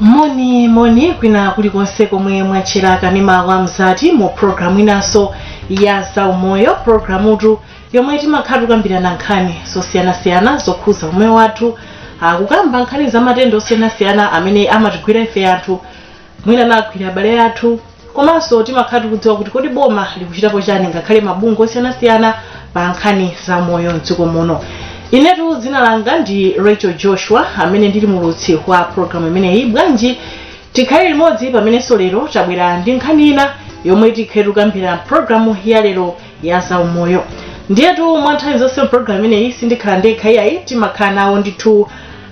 moni moni kwina kulikonse komwe mwatchera kanema wa mzati mu programu inanso ya zaumoyo programutu yomwe timakhala tikukambirana nkhani zosiyanasiyana zokhuza umoyo wathu kukamba nkhani za matenda osiyanasiyana amene amatigwira ife anthu mwina anagwira abale athu komanso timakhala tikudziwa kuti kodi boma likuchitapo chani ngakhale mabungwe osiyanasiyana pa nkhani za umoyo mdziko muno inetu dzina langa ndi rachel joshua amene ndili muulutsi wa programu imeneyi bwanji tikhale limodzi pamenenso lero tabwera ndi nkhani ina yomwe tikhale tikukambirana mu programu ya lero ya zaumoyo ndiyetu mwa nthawi zonse mpulogalamu imeneyi sindikhala ndekha iyayi timakhala nawo ndithu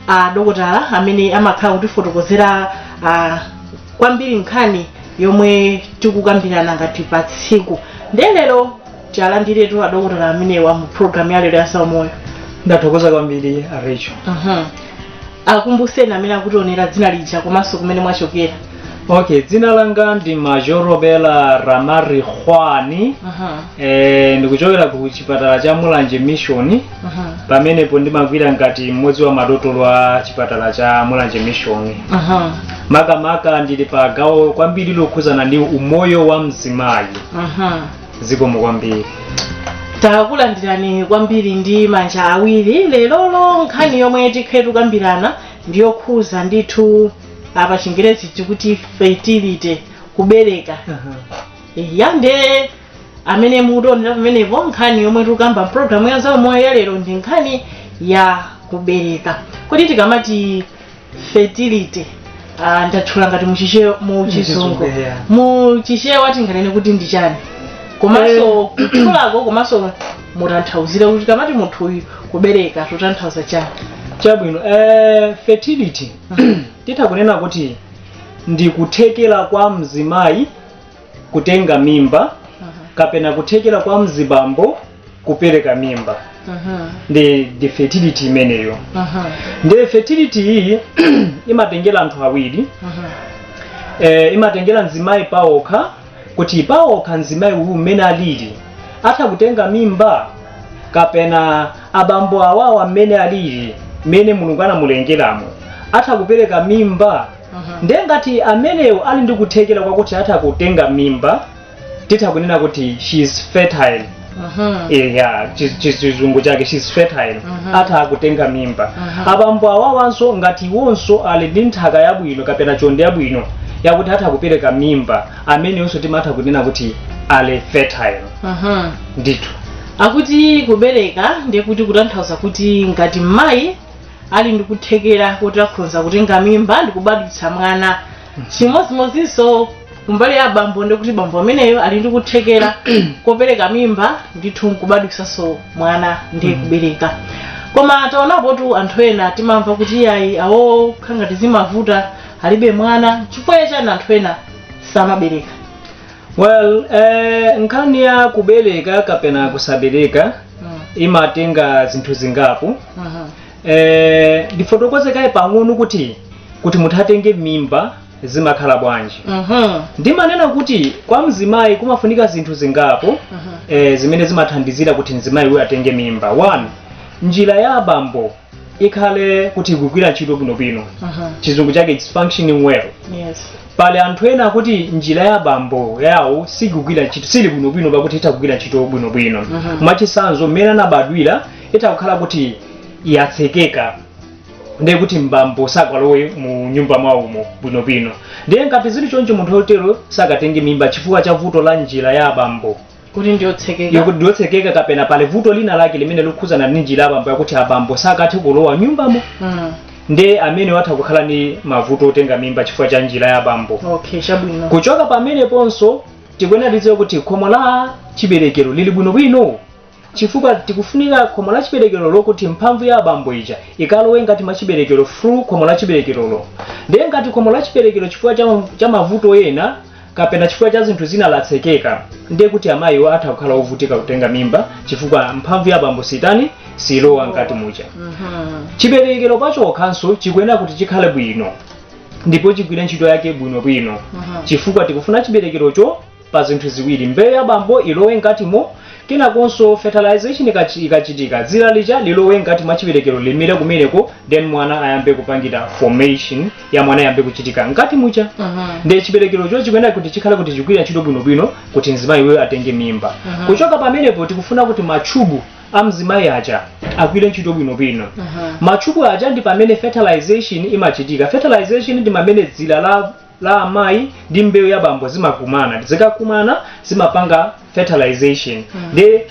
a dokotala amene amakhala kutifotokozera ah, kwambiri nkhani yomwe tikukambirana ngati pa tsiku ndiye lero tialandiretu adokotala amenewa mu programu ya lero ya zaumoyo ndathokoza kwambiri a rachel Mhm. akumbuseni amene akutionera dzina lija komanso kumene mwachokera okay dzina langa ndi majorobela ramarikhoane Mhm, eh, ndikuchokera ku chipatala cha mulanje mission mhm, pamenepo ndimagwira ngati mmodzi wa madotolo a chipatala cha mulanje mission mhm, makamaka ndili pa gawo kwambiri lokhuzana ndi umoyo wa mzimayi mhm. zikomo kwambiri takulandirani kwambiri ndi manja awiri lerolo nkhani yomwe tikhale tikukambirana ndiyokhuza ndithu apa pachingerezi tikuti fertility kubereka ya nde amene mukutionera pamenepo nkhani yomwe tikukamba mpulogalamu ya zaumoyo ya lero ndi nkhani ya kubereka kodi tikamati fertility ah, ndatchula ngati muchichewa mu chizungu Muchizungu, yeah. mu chichewa tinganene kuti ndi chani komanso kutchulako komanso mutanthauzire kuti tikamati munthu uyu kubereka tikutanthauza chani chabwino eh, fertility titha kunena kuti ndi kuthekera kwa mzimayi kutenga mimba kapena kuthekera kwa mzibambo kupereka mimba nde ndi fertility imeneyo ndi fertility iyi imatengera anthu awiri eh, imatengera mzimayi paokha kuti paokha mzimayi uyu mmene alili atha kutenga mimba kapena abambo awowo mmene alili mmene mulungu anamulengeramo atha kupereka mimba ndiye ngati amenewo ali ndi kuthekera kwakuti atha kutenga mimba titha kunena kuti she is fertile eya chi- chi- chizungu chake she's fertile atha kutenga mimba abambo awawanso ngati iwonso ali ndi nthaka yabwino kapena chonde yabwino yakuti atha kupereka mimba ameneyonso timatha kunena kuti ali fertile ndithu akuti kubereka ndiye kuti kutanthauza kuti ngati mayi ali ndi kuthekera kuti akhonza kutenga mimba ndi kubadwitsa mwana chimodzimodzinso kumbali ya bambo ndikuti bambo ameneyo ali ndi kuthekera kopereka mimba ndithu nkubadwisanso mwana ndiye kubereka koma taonapotu anthu ena timamva kuti ayi awo khangati zimavuta alibe mwana chifukwa chani anthu ena samabereka well eh, nkhani ya kubereka kapena kusabereka Mm, imatenga zinthu zingapo mhm, Eh, ndifotokoze kaye pang'ono kuti kuti munthu atenge mimba zimakhala bwanji Mhm. ndimanena kuti kwa mzimayi kumafunika zinthu zingapo Mhm. eh, zimene zimathandizira kuti mzimayi uyu atenge mimba one njira ya abambo ikhale kuti ikugwira ntchito bwinobwino Mhm. chizungu chake its functioning well Yes. pali anthu ena oti njira ya abambo yawo sikugwira ntchito sili bwinobwino poti itha kugwira ntchito bwinobwino Mhm. mwachitsanzo mmene anabadwira itha kukhala kuti yatsekeka ndiye kuti abambo sangalowe mu nyumba mwawomo bwinobwino ndiye ngati zili choncho munthu otero sakatenge mimba chifukwa cha vuto la njira ya abambo kuti ndiyotsekeka yokuti ndiyotsekeka kapena pali vuto lina lake limene likukhudzana ndi njira ya abambo yakuti abambo sakathe kulowa m'nyumbamo Mm. ndiye ameneyu atha kukhala ndi mavuto otenga mimba chifukwa cha njira ya abambo okay chabwino kuchoka pameneponso tikuyenera tidziwe kuti khomo la chiberekero lili bwinobwino chifukwa tikufunika khomo la chiberekero lokuti mphamvu ya abambo ija ikalowe m'kati mwa chiberekero through khomo la chiberekerolo ndiye ngati khomo la chiberekero chifukwa cha, cha mavuto ena kapena chifukwa cha zinthu zina latsekeka ndiye kuti amayiwo atha kukhala ovutika kutenga mimba chifukwa mphamvu ya abambo sitani silowa m'kati muja Mhm. chiberekero pachokhanso chikuyenera kuti chikhale bwino ndipo chigwire ntchito yake bwinobwino Mhm. chifukwa tikufuna chiberekerocho pa zinthu ziwiri mbewu ya bambo ilowe mkatimo kenakonso fertilization ikachi- ikachitika dzira lija lilowe mkati mwa chiberekero limire kumeneko then mwana ayambe kupangira formation ya mwana ayambe kuchitika mkati muja Mhm. ndiye chiberekerocho chikuyenera kuti chikhale kuti chikugwira ntchito bwinobwino kuti mzimayi uyu atenge mimba Mhm. kuchoka pamenepo tikufuna kuti machubu a mzimayi aja agwire ntchito bwinobwino Mhm. machubu aja ndi pamene fertilization imachitika fertilization ndi pamene dzira la la amayi ndi mbewu ya bambo zimakumana zikakumana zimapanga fertilization nde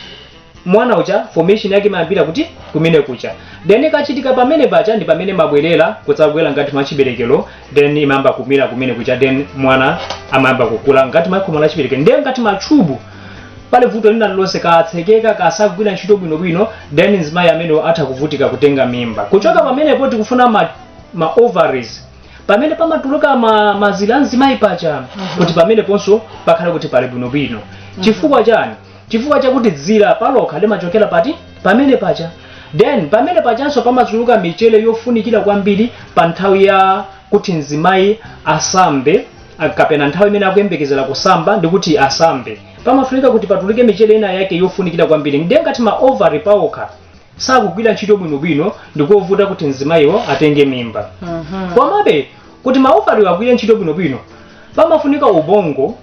mwana uja formation yake imayambira kuti kumene kuja then ikachitika pamene paja ndi pamene imabwerera kudzabwera ngati m'chiberekero then imayamba kumera kumene kuja then mwana amayamba kukula ngati mwa khomo la chiberekero ndiye ngati machubu pali vuto lina lililonse atsekeka sakugwira ntchito bwinobwino then mzimayi amene atha kuvutika kutenga mimba kuchoka pamenepo tikufuna ma, ma ovaries pamene pamatuluka ma, mazira a mzimayi paja kuti pameneponso pakhale kuti pali bwinobwino chifukwa chani chifukwa chakuti dzira palokha limachokera pati pamene paja then pamene pajanso pamatuluka michere yofunikira kwambiri pa nthawi ya kuti mzimayi asambe a- kapena nthawi imene akuyembekezera kusamba ndi kuti asambe pamafunika kuti patuluke michere ina yake yofunikira kwambiri ndiye ngati ma ovary paokha sakugwira ntchito bwinobwino ndikovuta kuti mzimayiwo atenge mimba Mhm. komabe kuti maovariwo agwire ntchito bwinobwino pamafunika ubongo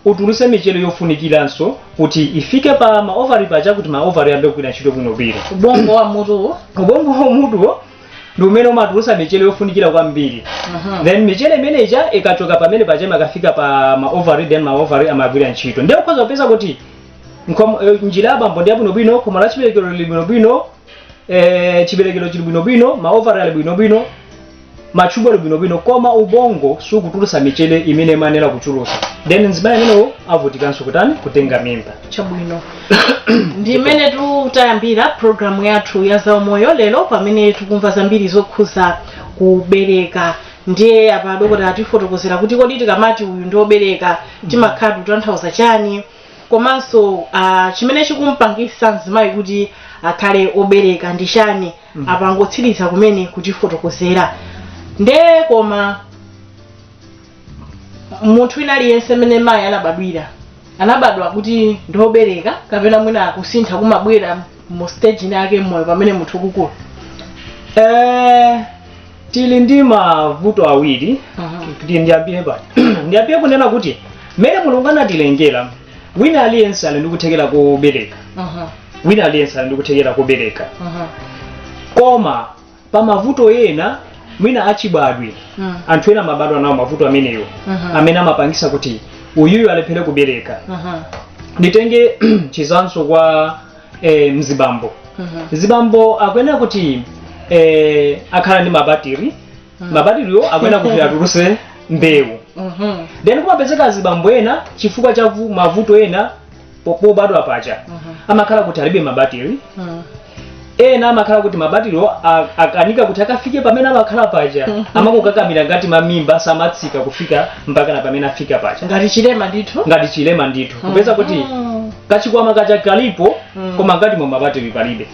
utuluse michere yofunikiranso kuti ifike pa maovari paja kuti maovari ayambe kugwira ntchito bwinobwino ubongo wa mutuwo ubongo wa mutuwo ndi umene umatulutsa michere yofunikira kwambiri Mhm. then michere imene ija ikachoka pamene paja imakafika pa maovari then maovari amagwira ntchito ndiye ukhoza kupeza kuti Nkom- eh, njira ya bambo ndi yabwinobwino khomo la chiberekero lili bwinobwino eh, chiberekero chili bwinobwino maovari ali bwinobwino machubu ali bwinobwino koma ubongo sukutulusa michere imene imayenera kutulusa then mzimayi amenewo avutikanso kutani kutenga mimba chabwino ndi mmene tayambira programu yathu ya zaumoyo lero pamene tikumva zambiri zokhuza kubereka ndiye apa dokotala atifotokozera kuti kodi tikamati uyu ndi wobereka timakhala tikutanthauza chani komanso uh, chimene chikumpangisa mzimayi kuti akhale obereka ndi chani mm. apangotsiriza kumene kutifotokozera nde koma munthu wina aliyense mmene mayi anabadwira anabadwa kuti ndiobereka kapena mwina kusintha kumabwera mu stage ina yake mmoyo pamene munthu akukula eh, tili ndi mavuto awiri kuti ndiyambire pano ndiyambire kunena kuti mmene mulungu anatilengera wina aliyense ali ndi kuthekera kobereka wina aliyense ali ndi kuthekera kobereka koma pa mavuto ena mwina achibadwa anthu ena amabadwa nawo mavuto amenewo amene amapangisa kuti uyuyu alephere kubereka nditenge chitsanzo kwa e, mzibambo mzibambo akuyenera kuti e, akhale ndi mabatiri mabatiriwo akuyenera kuti atulutse mbewu Mhm. then kumapezeka azibambo ena chifukwa cha vu- mavuto ena po- pobadwa paja amakhala kuti alibe mabatiri Mhm. ena amakhala kuti mabatiriwo a- akanika kuti akafike pamene amakhala paja amakakakamira ngati m'mimba samatsika kufika mpaka na pamene afika paja ngati chilema ndithu ngati chilema ndithu kupeza kuti kachikwama kaja kalipo Mm. koma ngati mu mabatiri palibe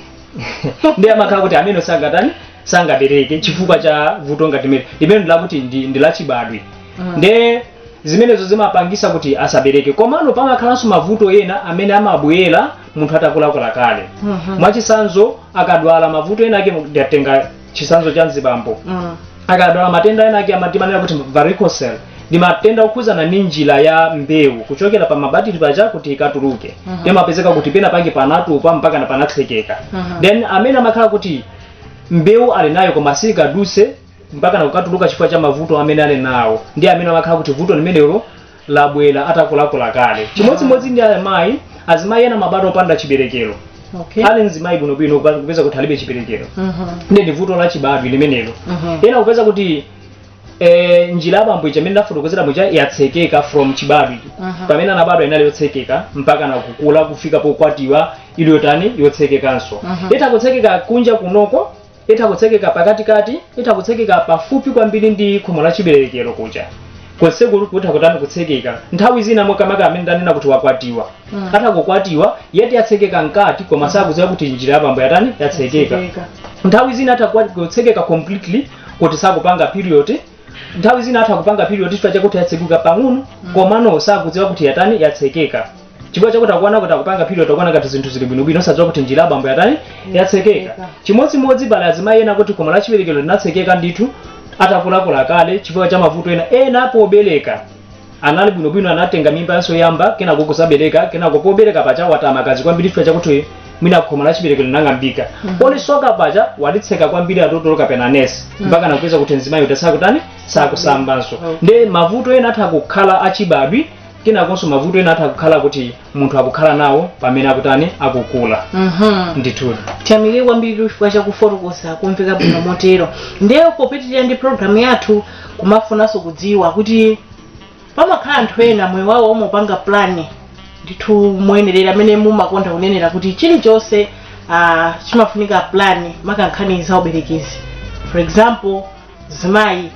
ndiye amakhala kuti amene sangatani sangabereke chifukwa cha vuto ngati mene limene ndilakuti ndi, ndi lachibadwe Mm. nde zimenezo zimapangisa kuti asabereke komano pamakhalanso mavuto ena amene amabwera munthu atakulakula kale Mhm. mwachitsanzo akadwala mavuto ena ake ndatenga chitsanzo cha mzibambo Mm. akadwala matenda ena ake amatimanena kuti varicocele ndi matenda okhudzana ndi njira ya mbewu kuchokera pa mabatiri paja kuti ikatuluke Mhm. ndiye amapezeka kuti pena pake panatupa mpaka na panatsekeka Mhm. then amene amakhala kuti mbewu ali nayo koma sikaduse mpaka nakukatuluka chifukwa cha mavuto amene ali nawo ndi amene amakhala kuti vuto limenelo labwera atakulakula kale chimodzimodzi ndi amayi azimayi ena amabadwa opanda chiberekero okay ali mzimayi bwinobwino kupa- kupeza kuti alibe chiberekero Mhm. ndi ndi vuto la chibadwe limenelo Mhm. ena kupeza kuti eh, njira ya abambo ija imene ndafotokozera muja yatsekeka from chibadwe Mhm. pamene anabadwa inali yotsekeka mpaka nakukula kufika pokwatiwa ili yotani yotsekekanso Mhm. itha kutsekeka kunja kunoko itha kutsekeka pakatikati itha kutsekeka pafupi kwambiri ndi khomo la chiberekero kuja konseko kutha kutani kutsekeka nthawi zina makamaka amene ndanena kuti wakwatiwa Mm. atha kukwatiwa yeti yatsekeka mkati koma sakudziwa kuti njira ya abambo yatani yatsekeka Tsekeka. nthawi zina atha kuwa- kutsekeka completely kuti sakupanga period nthawi zina atha kupanga period chifukwa chakuti yatsekuka pang'ono komano sakudziwa kuti yatani yatsekeka chifukwa chakuti akuona kuti akupanga period akuona ngati zinthu zili bwinobwino osadziwa kuti njira ya abambo yatani yatsekeka chimodzimodzi pali azimayi ena kuti khomo lachiberekero linatsekeka ndithu atakulakula kale chifukwa cha mavuto ena ena pobereka anali bwinobwino anatenga mimba yawo yoyamba kenako kusabereka kenako pobereka paja wataya magazi kwambiri chifukwa chakuti mwina khomo la chiberekero linang'ambika polisoka paja walitseka kwambiri adotolo kapena nesi mpaka nakupeza kuti mzimayi uja sakutani sakusambanso nde mavuto ena atha kukhala achibadwe kenakonso mavuto ena atha kukhala kuti munthu akukhala nawo pamene akutani akukula Mhm. ndithu tiyamike kwambiri chifukwa chakufotokoza kumveka bwino motero ndiye popitirira ndi programu yathu kumafunanso kudziwa kuti pamakhala anthu ena moyo wawo amaupanga plani ndithu moyenerera mmene mumakonda kunenera kuti chilichonse ah, chimafunika plani makankhani za uberekizi for example zimayi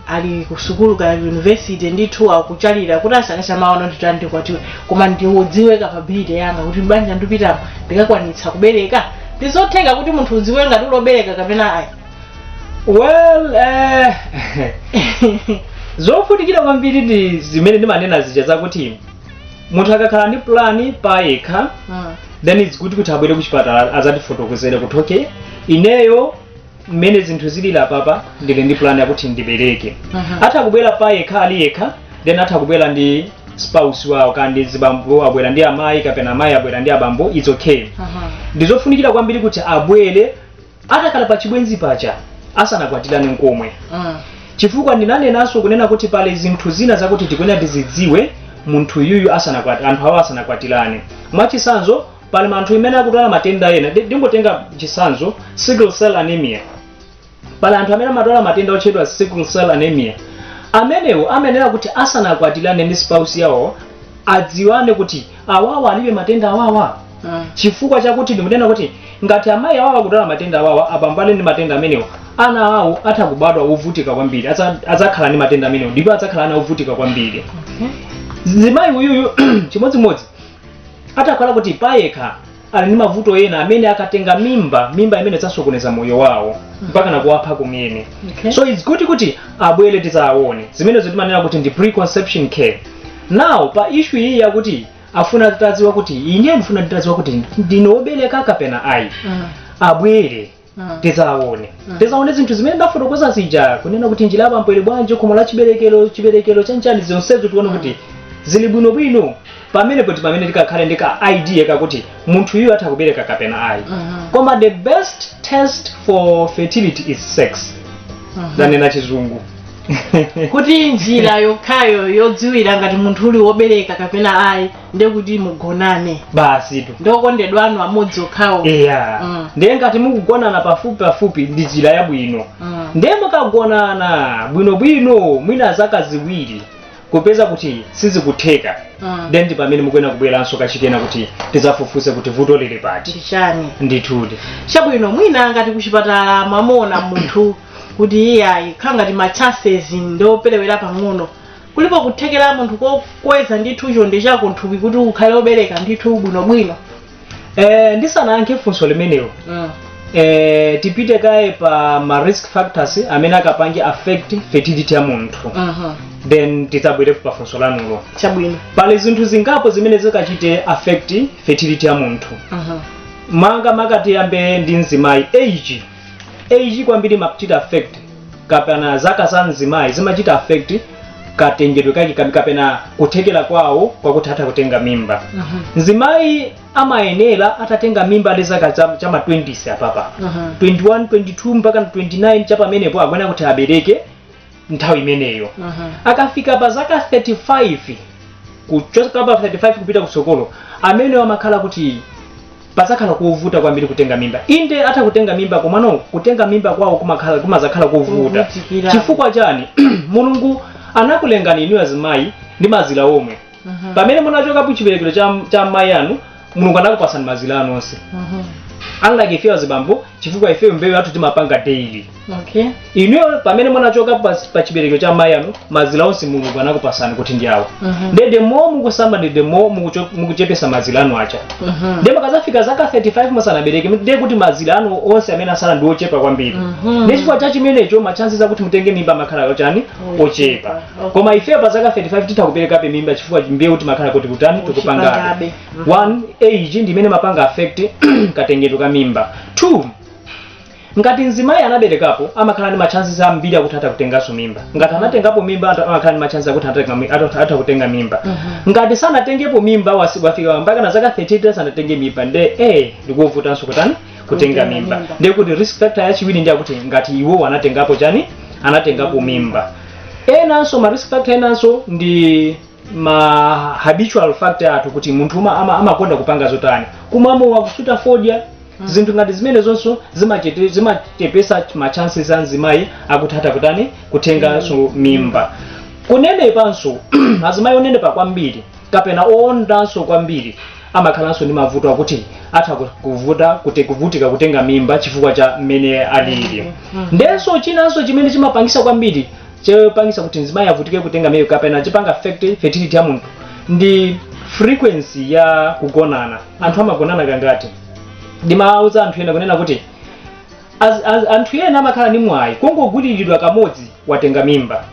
ali kusukulu ka university ndithu akuchalira kuti asakasa maono ndithu ndikwatiwe koma ndidziwe capability yanga kuti banja ndipitamo ndikakwanitsa kubereka ndizotheka kuti munthu udziwe ngati uli obereka kapena ayi well eh, zofunikira kwambiri ndi zimene ndimanena zija zakuti munthu akakhala ndi plan payekha Mm. then it's good kuti abwere kuchipatala azatifotokozere kuti okay ineyo mmene zinthu zili apapa ndili ndi plan yakuti ndibereke Mhm. atha kubwera payekha ali yekha then atha kubwera ndi spouse wawo kaya ndi azibambo abwera ndi amayi kapena amayi abwera ndi abambo it's okay Aha. ndizofunikira kwambiri kuti abwere atakhala pa chibwenzi paja asanakwatirane nkomwe Mm. chifukwa ndinanenanso kunena kuti pali zinthu zina zakuti tikuyenera tizidziwe munthu uyuyu asanakwati anthu awo asanakwatirane mwachitsanzo pali anthu amene akudwala matenda ena Ndi- ndingotenga chisanzo sickle cell anemia pali anthu amene amadwala matenda otchedwa sickle cell anemia amenewo amayenera kuti asanakwatirane ndi spouse yawo adziwane kuti awawa alibe matenda awawa Mm. chifukwa chakuti ndikunena kuti ngati amayi awawa akudwala matenda awawa abambo ali ndi matenda amenewo ana awo atha kubadwa ovutika kwambiri Adza- adzakhala ndi matenda amenewo ndipo adzakhala ana ovutika kwambiri zimayi uyuyu chimodzimodzi atakhala kuti payekha ali ndi mavuto ena amene akatenga mimba mimba imene idzasokoneza moyo wawo mpaka nakuwapha kumene Okay. so it's good kuti abwere tizaone zimenezo timanena kuti ndi preconception care now pa issue iyi yakuti afuna atadziwa kuti ine ndifuna nditadziwa kuti ndine wobereka kapena ayi Mm. abwere tizaone tizaone zinthu zimene ndafotokoza zija kunena kuti njira ya bambo ili bwanji khomo la chiberekero chiberekero chonchi zonsezo tione kuti zili bwinobwino pamenepo ndi pamene tikakhale ndi ka idea kakuti munthu uyu atha kubereka kapena ayi koma the best test for fertility is sex ndanena chizungu kuti njira yokhayo yodziwira ngati munthu uli wobereka kapena ayi ndi kuti mugonane basitu ndi okondedwa anu amodzi okhawo eya Mm. ndiye ngati mukugonana pafupi pafupi ndi njira yabwino Mm. ndiye mukagonana bwinobwino mwina zaka ziwiri kupeza kuti sizikutheka Mm. then ndi pamene mukuyenera kubweranso kachikena kuti tizafufuze kuti vuto lili pati ndi chani ndithudi chabwino mwina ngati kuchipatala mwamuona munthu kuti iyayi akhala ngati ma chances ndi operewera pang'ono kulipo kuthekera munthu kokweza ndithu chonde chako nthupi kuti ukhale wobereka ndithu bwinobwino Eh, ndisanayankhe funso limenelo Mm. eh, tipite kaye pa ma risk factors amene akapange affect fertility ya munthu Mhm. then tidzabwerepo pa funso lanulo chabwino pali zinthu zingapo zimene zikachite affect fertility ya munthu Mhm. mwina makamaka tiyambe ndi mzimayi age age kwambiri imachita affect kapena zaka za mzimayi zimachita affect katengedwe kake kabi- kapena kuthekera kwawo kwakuti atha kutenga mimba Mhm. mzimayi amayenera atatenga mimba ali zaka za- cha ma 20s apapa Mhm. 21 22 mpaka 29 chapamenepo akuyenera kuti abereke nthawi imeneyo Mhm. akafika pa zaka 35 kuchoka pa 35 kupita kutsogolo amenewo amakhala kuti pazakhala kovuta kwambiri kutenga mimba inde atha kutenga mimba komano kutenga mimba kwawo kumakhala kumazakhala kovuta Kuvutikira. chifukwa chani mulungu anakulengani inu azimayi ndi mazira omwe pamene munachoka ku chiberekero cha, cha mayi anu mulungu anakupatsani mazira anu onse unlike ife azibambo chifukwa ife mbewu yathu timapanga daily okay inuyo pamene munachoka pas- pa chiberekero cha mayi anu mazira onse mulungu anakupatsani kuti ndi awa Mhm. nde the more mukusamba ndi the more mukucho- mukuchepesa mazira anu aja Mhm. nde mukazafika zaka 35 musanabereke ndiye kuti mazira anu onse amene asala ndi ochepa kwambiri Mhm. ndi chifukwa cha chimenecho matchansi akuti mutenge mimba amakhala ochani ochepa koma ife pa zaka 35 titha kuperekabe mimba chifukwa mbewu timakhala kuti kutani tikupangabe Uchipangabe. Mhm. one age ndi imene imapanga affect katengedwe ka mimba two ngati mzimayi anaberekapo amakhala ndi matchansi ambiri akuti atha kutenganso mimba ngati anatengapo mimba atha- amakhala ndi matchansi akuti atatenga mi- atha atha kutenga mimba ngati sanatengepo mimba wasi- wafika mpaka na zaka 30 sanatenge mimba nde eh ndikuvutanso kutani kutenga Kutenga mimba mimba. ndiye kuti risk factor yachiwiri ndi yakuti ngati iwo anatengapo chani anatengapo mimba enanso ma risk factor enanso ndi ma habitual factor athu kuti munthu uma- ama- amakonda kupanga zotani kumwa mowa kusuta fodya zinthu ngati zimene zonso zimachete- zimachepesa ma chances a mzimayi akuti atha kutani kutenganso mimba kunenepanso azimayi onenepa kwambiri kapena oondanso kwambiri amakhalanso ndi mavuto akuti atha ku- kuvuta kuti kuvutika kutenga mimba chifukwa cha mmene alili ndenso chinanso chimene chimapangisa kwambiri chopangisa kuti mzimayi avutike kutenga mimba kapena chimapanga affect fertility ya munthu ndi frequency ya kugonana anthu amagonana kangati ndimawuza anthu ena kunena kuti az- az- anthu ena amakhala ndi mwayi kungogwiriridwa kamodzi watenga mimba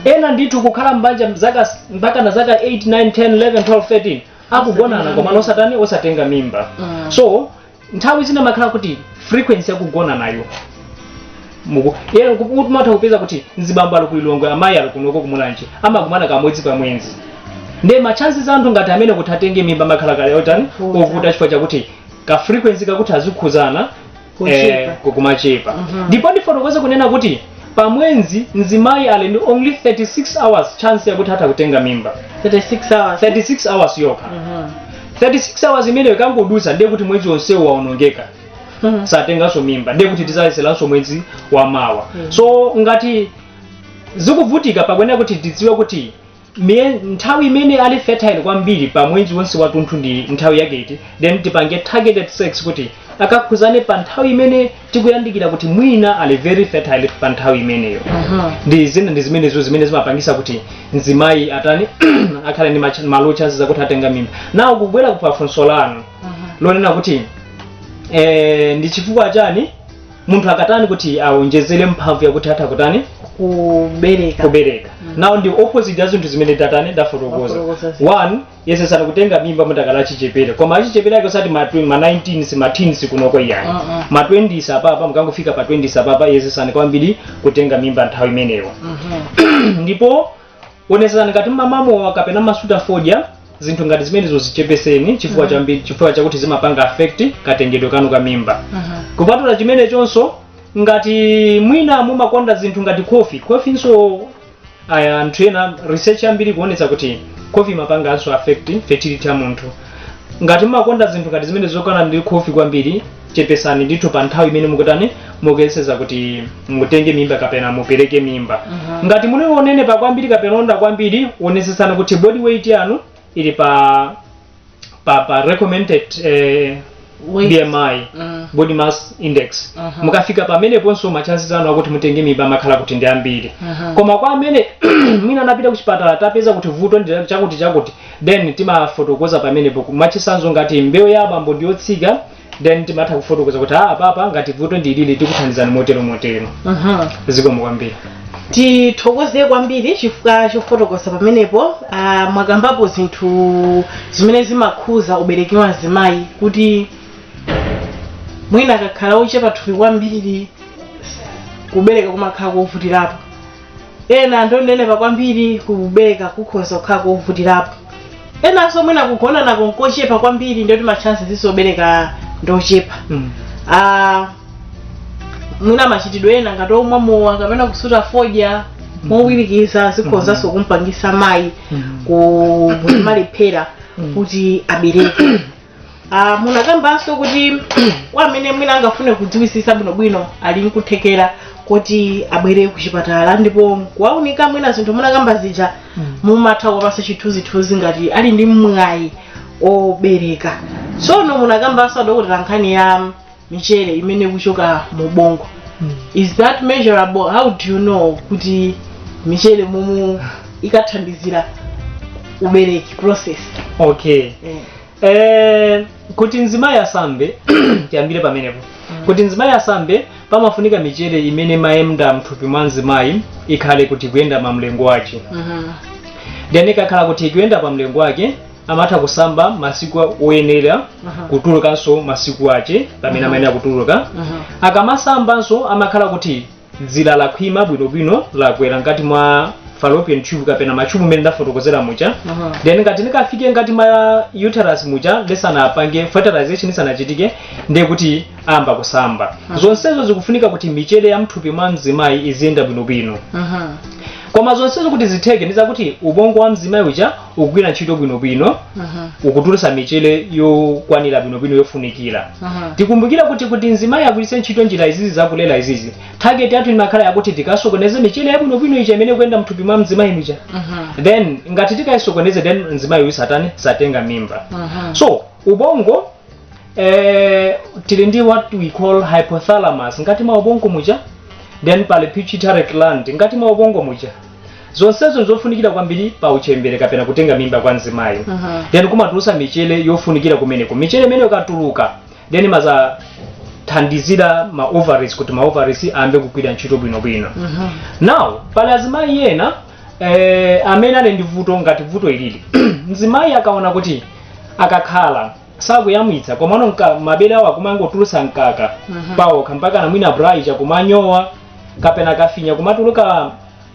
ena ndithu kukhala mbanja mzaka mpaka na zaka 8 9 10 11 12 13 akugonana komano osatani osatenga mimba Mm. so nthawi zina makhala kuti frequency yakugonanayo muku yero kumatha kupeza kuti mzibambo ali ku Lilongwe amayi ali kunoko kumulanje amakumana kamodzi pamwezi nde machances a anthu ngati amene kuti atenge mimba amakhala kale otani Kuvuta. ovuta chifukwa chakuti ka frequency kakuti azikhuzana Kuchepa. kukumachepa Mhm. ndipo ndifotokoze kunena kuti pamwezi mzimayi ali ndi only 36 hours chance yakuti atha kutenga mimba 36 hours 36 hours yokha Mhm. 36 hours imeneyo ikangodutsa ndiye kuti mwezi wonsewo waonongeka Mhm. satenganso mimba ndiye kuti tizayeseranso mwezi wamawa Mm. so ngati zikuvutika pakuyenera kuti tidziwe kuti Mie- nthawi imene ali fertile kwambiri pa mwezi wonse watunthu ndi nthawi yake iti then tipange targeted sex kuti akakhuzane pa nthawi imene tikuyandikira kuti mwina ali very fertile pa nthawi imeneyo Aha. ndi zime- ndi zimenezo zimene zimapangisa kuti mzimayi atani akhale ndi mach- ma low chances akuti atenga mimba now kubwera pafunso lanu Aha. lonena kuti eh, ndi chifukwa chani munthu akatani kuti awonjezere mphamvu yakuti atha kutani kubereka kubereka now ndi opposite ya zinthu zimene tatani ndafotokoza Ndafotokoza zinthu. one yesesani kutenga mimba mukadali achichepere koma achichepere ake osati ma tw- ma 19s ma teens kunoko iyayi Mm-mm. ma 20s apapa mukangofika pa 20s apapa yesesani kwambiri kutenga mimba nthawi imeneyo Mhm. ndipo onetsetsani ngati mmamamowa kapena mmasuta fodya zinthu ngati zimenezo zichepeseni chifukwa chambi chifukwa chakuti zimapanga affect katengedwe kanu ka mimba kupatula chimenechonso ngati mwina mumakonda zinthu ngati kofi kofinso aya anthu ena research yambiri ikuonetsa kuti kofi imapanganso affect fertility ya munthu ngati mumakonda zinthu ngati zimene zokhala ndi kofi kwambiri chepesani ndithu pa nthawi imene mukutani mukuyeseza kuti mutenge mimba kapena mupereke mimba Mhm. ngati muli onenepa kwambiri kapena owonda kwambiri onesesani kuti body weight yanu ili pa pa, pa recommended eh, Weight. bmi Mm. body mass index Mhm. mukafika pameneponso machances anu akuti mutenge mimba amakhala kuti ndi ambiri Mhm. koma kwa amene mwina anapita kuchipatala tapeza kuti vuto ndi chakuti chakuti then timafotokoza pamenepo mwachisanzo ngati mbewu ya abambo ndi yotsika then timatha kufotokoza kuti apapa ngati vuto ndi ili tikuthandizani motero motero Mhm. zikomo kwambiri tithokoze kwambiri chifukwa chofotokoza pamenepo ah, mwakambapo zinthu zimene zimakhuza ubereki wa azimayi kuti mwina akakhala ochepa thupi kwambiri kubereka kumakhala kovutirapo ena ndionenepa kwambiri kubereka kukhoza kukhala kovutirapo enanso mwina kugonana nako nkochepa kwambiri ndiye kuti matchansi ake obereka ndochepa Mm. Ah, mwina machitidwe ena ngati omwa mowa kapena kusuta fodya mowirikiza zikhozanso kumpangisa mayi Mm. kumalephera kuti abereke Ah, munakambanso kuti kwa amene mwina angafune kudziwisisa bwinobwino ali nkuthekera kuti abwere kuchipatala ndipo kuwaunika mwina zinthu munakamba zija mumatha kuwapasa chithunzithunzi ngati ali ndi mwayi obereka tsono munakambanso adokotera nkhani ya michere imene ikuchoka mu ubongo is that measurable how do you know kuti michere momwe ikathandizira ubereki process okay eh. Eh, kuti mzimayi asambe tiyambire pamenepo kuti mzimayi asambe pamafunika michere imene imayenda mthupi mwa mzimayi ikhale kuti ikuyenda pa mlingo wake Mhm. then ikakhala kuti ikuyenda pa mlingo wake amatha kusamba masiku oyenera Aha. kutulukanso masiku ache pamene amayenera kutuluka Aha. akamasambanso amakhala kuti dzira lakhwima bwinobwino lagwera ngati mwa fallopian tube kapena machubu mene ndafotokozera muja Aha. then ngati likafike ngati mwa uterus muja lisanapange fertilization isanachitike ndiye kuti ayamba kusamba zonsezo zikufunika kuti michere ya mthupi mwa mzimayi iziyenda bwinobwino Aha. koma zonsezo kuti zitheke ndizakuti ubongo wa mzimayi uja ukugwira ntchito bwinobwino Mhm. ukutulutsa michele yokwanira bwinobwino yofunikira Mhm. tikumbukire kuti kuti mzimayi agwiritse ntchito njira izizi zakulera izizi target yathu imakhala yakuti tikasokoneze michele yabwinobwino ija imene ikuyenda mthupi mwa mzimayi muja Mhm. then ngati tikayisokoneze then mzimayi uyu satani satenga mimba Mhm. so ubongo eh, tili ndi what we call hypothalamus ngati mwa ubongo muja then pali pituitary gland ngati mwa ubongo muja zonsezo nzofunikira kwambiri pa uchembere kapena kutenga mimba kwa mzimayi Mhm. then kumatulusa michele yofunikira kumeneko michele imene ikatuluka then imazathandizira ma ovaries kuti ma ovaries ayambe kugwira ntchito bwinobwino Mhm. now pali azimayi ena eh, amene ali ndi vuto ngati vuto ilili mzimayi akaona kuti akakhala sakuyamwitsa komano mka- mabere awo akumangotulusa mkaka Mhm. paokha mpakana mwina bra ija kumanyowa kapena akafinya kumatuluka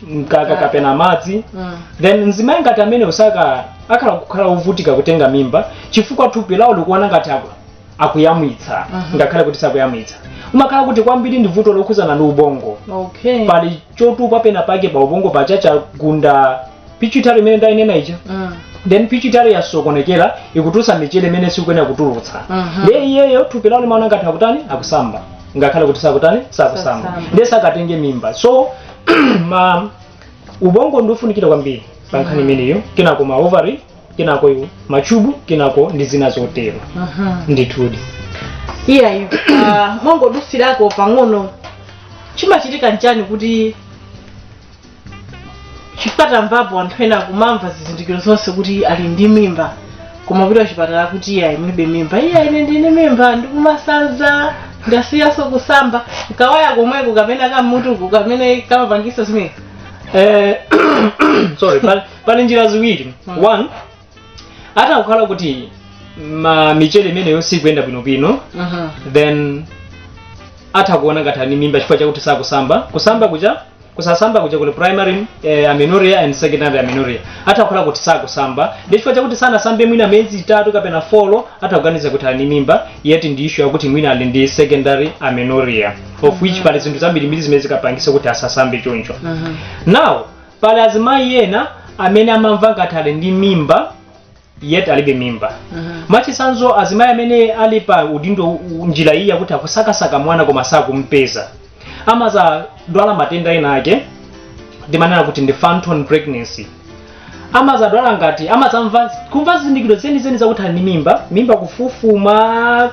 mkaka kapena madzi Mm. then mzimayi ngati ameneyo akhoza kukhala wovutika kutenga mimba chifukwa thupi lawo likuona ngati aku- akuyamwitsa Mhm. ngakhale kuti sakuyamwitsa umakhala kuti kwambiri ndi vuto lokhuzana ndi ubongo okay pali chotupa pena pake pa ubongo paja chagunda pituitary imene ndainena ija Mm. then pituitary yasokonekera ikutulutsa michere imene sikuyenera kutulutsa Mhm. ndiye iyeyo thupi lawo limaona ngati akutani akusamba ngakhale kuti sakutani sakusamba Sakusamba. ndiye sakatenge mimba so ubongo ndiofunikira kwambiri pa nkhani imeneyo kenako ma ovary kenako iwo machubu kenako ndi zina zotero Aha. ndithudi iyayi ah, mongodutsirako pang'ono chimachitika nchani kuti chifukwa tamvapo anthu ena kumamva zizindikiro zonse kuti ali ndi mimba koma kuti achipatala kuti iyayi mulibe mimba iyayi ine ndili ndi mimba ndikumasanza ndasiyaso kusamba kawaya komweko kapena kumutuku kamene kamapangisa zimene Eh, sorry pali pali njira ziwiri Mm. one atha kukhala kuti ma michere imeneyo sikuyenda bwinobwino Mhm. then atha kuona ngati ali mimba chifukwa chakuti sakusamba kusamba kuja kusasamba kuja kuli primary eh, amenorrhea and secondary amenorrhea atha kukhala kuti sakusamba ndi chifukwa chakuti sanasambe mwina miyezi itatu kapena folo atha kuganiza kuti ali mimba yeti ndi issue yakuti mwina ali ndi secondary amenorrhea of which pali zinthu zambirimbiri zimene zikapangisa kuti asasambe choncho Mhm. now pali azimayi ena amene amamva ngati ali ndi mimba yet alibe mimba mwachitsanzo azimayi amene ali pa udindo u- njira iyi yakuti akusakasaka mwana koma sakumpeza amazadwala matenda ena ake ndimanena kuti ndi phantom pregnancy amazadwala ngati amazamva kumva zizindikiro zenizeni zakuti ali ndi mimba mimba kufufuma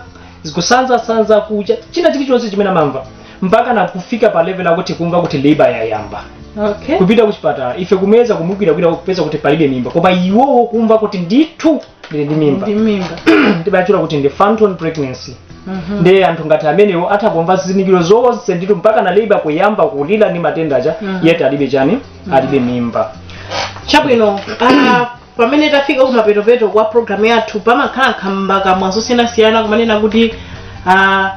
kusanzasanza kucha china chilichonse chimene amamva mpaka na kufika pa level yakuti kumva kuti labor yayamba okay kupita kuchipatala ife kumuyeza kumugwiragwira kupeza kuti palibe mimba koma iwowo kumva kuti ndithu ndili ndi mimba ndi mimba ndimatchula kuti ndi phantom pregnancy Mhm. ndiye anthu ngati amenewo atha kumva zizindikiro zonse ndithu mpaka na labor kuyamba kulira ndi matenda aja Mhm. yet alibe chani alibe mimba chabwino ah, pamene tafika kumapetopeto kwa programu yathu pamakhala nkhambakamwa zosiyanasiyana kumanena kuti ah,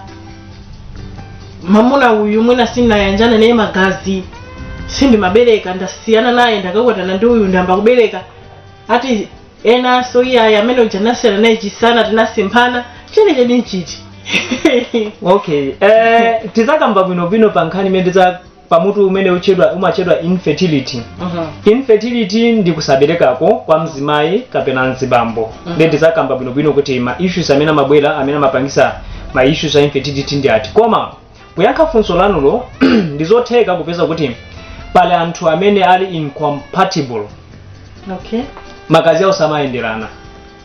mamuna uyu mwina sinayanjana naye magazi sindimabereka ndasiyana naye ndakakwatirana ndi uyu ndiyamba kubereka ati enanso iyayi amene uja ndasiyana naye chisana tinasemphana chenicheni nchiti okay eh, tizakamba bwinobwino pa nkhani imene tiza pa mutu umene utchedwa umatchedwa infertility infertility ndi kusaberekako kwa mzimayi kapena mzibambo Mhm. ndiye ndizakamba bwinobwino kuti ma issues amene amabwera amene amapangisa ma issues a infertility ndi ati koma kuyankha funso lanulo ndizotheka kupeza kuti pali anthu amene ali incompatible okay magazi awo samayenderana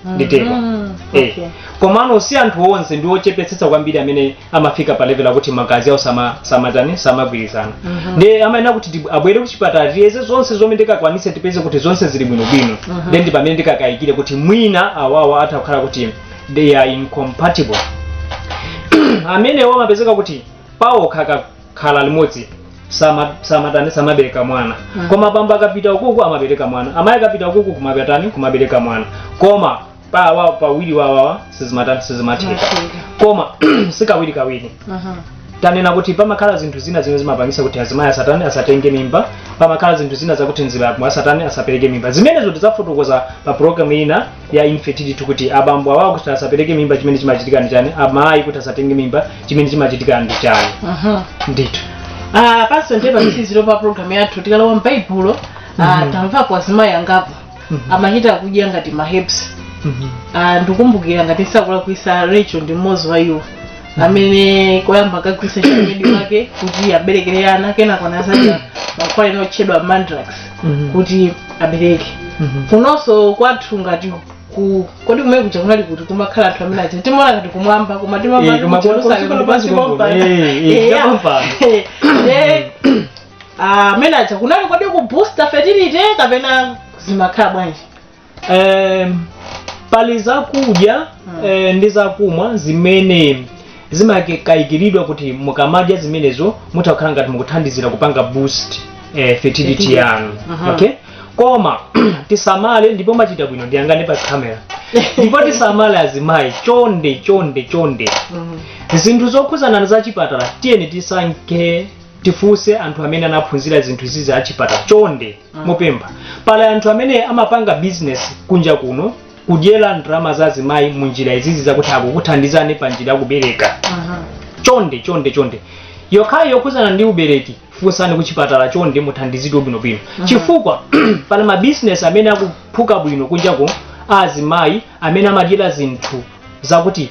nditero Mhm. Eh. Okay. komano si anthu onse ndi ochepetsetsa kwambiri amene amafika pa level yakuti magazi awo sama- samatani samagwirizana Mhm. ndiye amayenera kuti ndi- abwere kuchipatala tiyeze zonse zomwe tikakwanise tipeze kuti zonse zili bwinobwino Mhm. then ndi pamene tikakayikire kuti mwina awawa atha kukhala kuti they are incompatible amenewo amapezeka kuti pawo akakha khala limodzi sama- samatani samabereka mwana Mm. koma bambo akapita ukuku amabereka mwana amayi akapita ukuku kumatani kumabereka mwana koma pawa pawiri wawawa sizimatani sizimatheka Matheka. koma si kawirikawiri Aha. tanena kuti pamakhala zinthu zina zimene zimapangisa kuti azimayi asatani asatenge mimba pamakhala zinthu zina zakuti mzibambo asatani asapereke mimba zimenezo tidzafotokoza pa programu ina ya infertility kuti abambo awa kuti asapereke mimba chimene chimachitika ndi chani amayi kuti asatenge mimba chimene chimachitika ndi chani Aha. ndithu Ah, panso ndiye pamtsiriziro pa programu yathu tikalowa m'baibulo ah, tamvapo azimayi angapo amachita kudya ngati maherbs Ah, ndikumbukira ngati sindikulakwitsa Rachel ndi mmodzi wa iwo amene koyamba akagwiritsa ntchito maid wake kuti aberekere ana kenako anazadya mankhwala ena otchedwa mandrake Mhm. kuti abereke Mhm. kunonso kwathu ngati ku kodi kumene kuja kunali kuti kumakhala anthu amene aja timaona ngati kumwamba koma timamva Eh, kuti koma ku Jerusalem Jerusalem ndi pansi pansi pompa. pompa. Eh, eh, Eh, ya. pompa. Eh, ah, amene aja kunali kodi ku boosta fertility kapena zimakhala bwanji eh, pali zakudya eh, ndi zakumwa zimene zimakayikiridwa kuti mukamadya zimenezo mutha kukhala ngati mukuthandizira kupanga boost eh, fertility Fertility. yanu Aha. okay koma tisamale ndipo mwachita bwino ndiyang'ane pa kamera ndipo tisamale azimayi chonde chonde chonde zinthu zokhudzana ndi za chipatala tiyeni tisankhe tifunse anthu amene anaphunzira zinthu izi za chipatala chonde ndikupempha pali anthu amene amapanga bizinesi kunja kuno kudyera ndalama za azimayi mu njira izizi zakuti akukuthandizani pa njira yakubereka chonde chonde chonde nkhani yokhudzana ndi ubereki funsani kuchipatala chonde muthandizidwe bwinobwino chifukwa pali mabizinesi amene akuphuka bwino kunja kuno a azimayi amene amadyera zinthu zakuti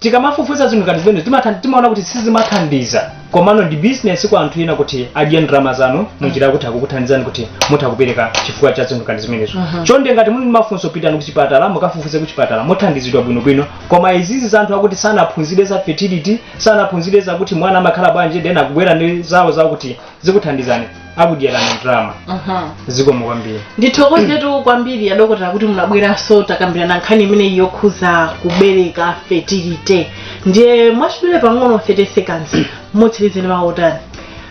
tikamafufuza zinthu ngati zimenezo timatha- timaona kuti sizimathandiza komano ndi business kwa anthu ena kuti adye ndalama zanu munjira yakuti akukuthandizani kuti mutha kubereka chifukwa cha zinthu ngati zimenezo chonde ngati muli ndi mafunso pitani kuchipatala mukafufuze kuchipatala muthandizidwa bwinobwino koma izizi za anthu oti sanaphunzire za fertility sanaphunzire zakuti mwana amakhala bwanji then akubwera ndi zawo zakuti zikuthandizani akudyerani ndalama Mhm. zikomo kwambiri ndithokozetu kwambiri adokotera kuti munabweranso takambirana nkhani imeneyi yokhudza kubereka fertility ndiye mwachidule pang'ono 30 seconds mutsirize ndi mawu otani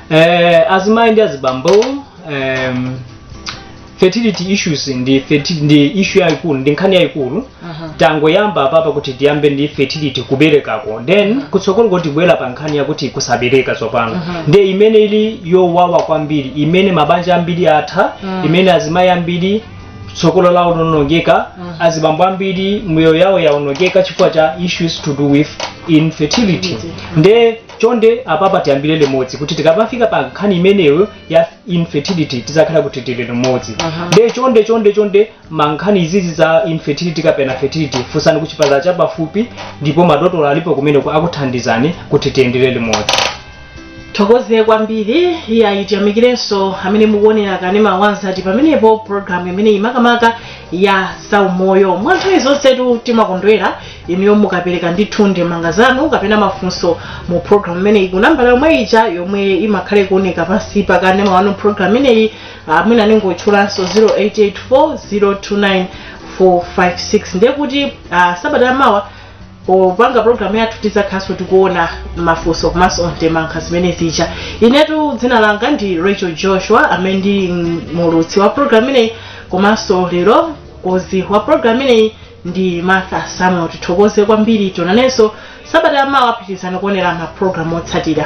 eh, azimayi ndi azibambo em, fertility issues ndi ferti, ndi issue yayikulu ndi nkhani yayikulu Aha. tangoyamba apapa kuti tiyambe ndi fertility kuberekako then kutsogoloku tibwera pa nkhani yakuti kusabereka tsopano Aha. nde imene ili yowawa kwambiri imene mabanja ambiri atha Mm. imene azimayi ambiri tsogolo lawo laonongeka Mm. azibambo ambiri miyoyo yawo yaonongeka chifukwa cha issues to do with infertility Infertility. nde chonde apapa tiyambire limodzi kuti tikamafika pa nkhani imeneyo ya infertility tizakhale kuti tili limodzi Aha. nde chonde chonde chonde mankhani izizi za infertility kapena fertility funsani ku chipatala chapafupi ndipo madokotala alipo kumeneko akuthandizani kuti tiyendere limodzi thokoze kwambiri eya tiyamikirenso amene mukuonera kanema wa mzati pamenepo programu imene imakamaka ya zaumoyo mwa nthawi zonsetu timakondwera inuyo mukapereka ndithu ndemanga zanu kapena mafunso mu program imeneyi ku nambala yomwe ija yomwe imakhala ikuoneka pansi pa kanema wanu program imeneyi mwina ndingotchulanso 0884 029 456 ndiye kuti ah, sabata yamawa popanga program yathu tizakhaso tikuona mafunso komanso ndemanga zimene zija inetu dzina langa ndi rachel joshua amene ndi muulutsi wa program imeneyi komanso lero mkonzi wa program imeneyi ndi martha samuel tithokoze kwambiri tionanenso sabata yamawa pitirizani kuonera ma program otsatira